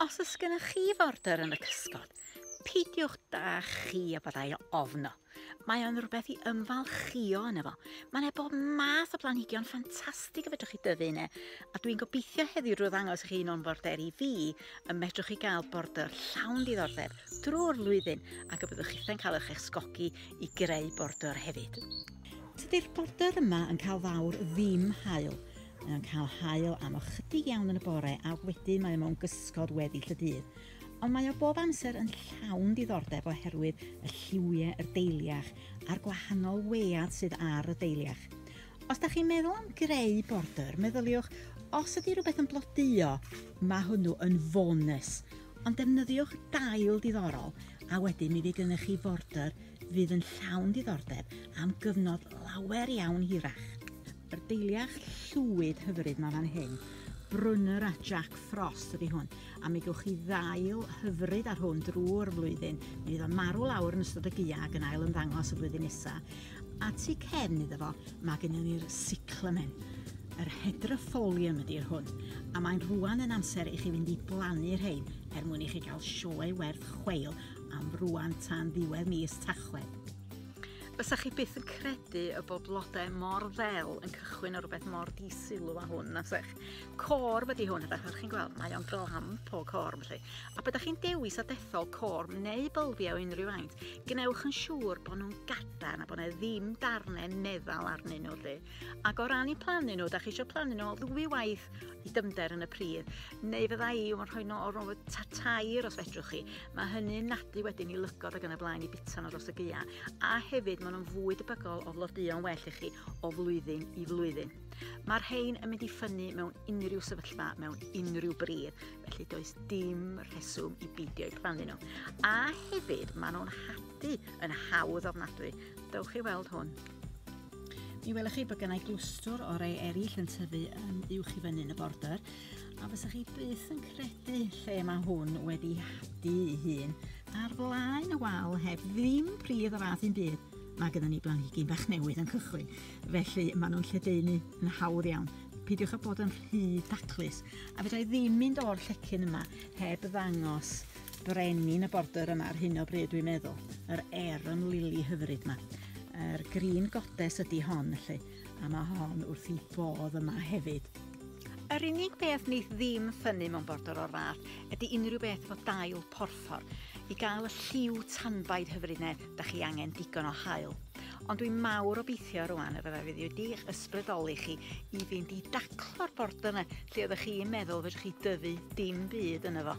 Os oes gennych chi forder yn y cysgod, peidiwch da chi a byddai ofno. Mae o'n rhywbeth i ymfalchio yn efo. Mae'n e bob math o blanhigion ffantastig y fedrwch chi dyfu yna, a dwi'n gobeithio heddiw drwy ddangos i chi un o'n forderi fi y medrwch chi gael border llawn diddordeb drwy'r flwyddyn ac y byddwch chi'n cael eich esgogi i greu border hefyd. Tydi'r border yma yn cael fawr ddim haul. Mae o'n cael haul am ychydig iawn yn y bore a wedyn mae o mewn gysgod weddill y dydd. Ond mae o bob amser yn llawn diddordeb oherwydd y lliwiau yr deiliach a'r gwahanol wead sydd ar y deiliach. Os da chi'n meddwl am greu border, meddyliwch os ydy rhywbeth yn blodeuo, mae hwnnw yn fonus. Ond defnyddiwch dail diddorol a wedyn mi fydd gennych chi forder fydd yn llawn diddordeb am gyfnod lawer iawn hirach. Yr deiliach llwyd hyfryd mae fan hyn. Brunner a Jack Frost ydy hwn, a mi gewch chi ddail hyfryd ar hwn drwy'r flwyddyn. Mi fydd o'n marw lawr yn ystod y gia ac yn ail ymddangos y flwyddyn nesaf. A tu cefn iddo fo, mae gennym ni'r cyclamen. Yr hydroffolium ydy'r hwn, a mae'n rwan yn amser i chi fynd i blannu rhein er mwyn i chi gael sioe werth chweil am rwan tan ddiwedd mis Tachwedd. Fysa chi byth yn credu y bod blodau mor ddel yn cychwyn o rhywbeth mor disilw a hwn, na sech. Cor wedi hwn, ydych chi'n gweld, mae o'n glam o cor, felly. A byddwch chi'n dewis a dethol cor neu bylfiau o unrhyw faint, gwnewch yn siŵr bod nhw'n gadarn a bod yna ddim darnau meddal arnyn nhw, lle. Ac o ran i plannu nhw, da chi eisiau plannu nhw ddwy waith i dyfnder yn y pridd, neu fydda i yn rhoi nhw o'r ofod ta tair os fedrwch chi. Mae hynny'n nadu wedyn i lygod ac yn y blaen i bita nhw dros y gyia, a hefyd maen nhw'n fwy debygol o flodeuo'n well i chi o flwyddyn i flwyddyn. Mae'r rhain yn mynd i ffynnu mewn unrhyw sefyllfa, mewn unrhyw bridd, felly does dim rheswm i beidio i plannu nhw. A hefyd, maen nhw'n hadu yn hawdd ofnadwy. Dewch i weld hwn. Mi welwch chi bod gennau glwstwr o rei eraill yn tyfu yn uwch i fyny yn y border a fysa chi byth yn credu lle mae hwn wedi hadu ei hun ar flaen y wal heb ddim pridd o fath un byd mae gyda ni blanhigyn bach newydd yn cychwyn felly maen nhw'n lledaenu yn hawdd iawn peidiwch â bod yn rhy daclus a fedra i ddim mynd o'r llecyn yma heb ddangos brenin y border yma ar hyn o bryd dwi'n meddwl. Yr Aeron Lily hyfryd yma. Yr er Green Goddess ydy hon, felly. A mae hon wrth i bodd yma hefyd. Yr unig beth ni ddim ffynnu mewn border o'r fath ydy unrhyw beth efo dail porffor. I gael y lliw tanbaid hyfryd ne, da chi angen digon o hael. Ond dwi'n mawr obeithio rwan y fydda fydd wedi'ch ysbrydoli chi i fynd i daclo'r bord yna lle oeddech chi'n meddwl fedrwch chi dyfu dim byd yna fo.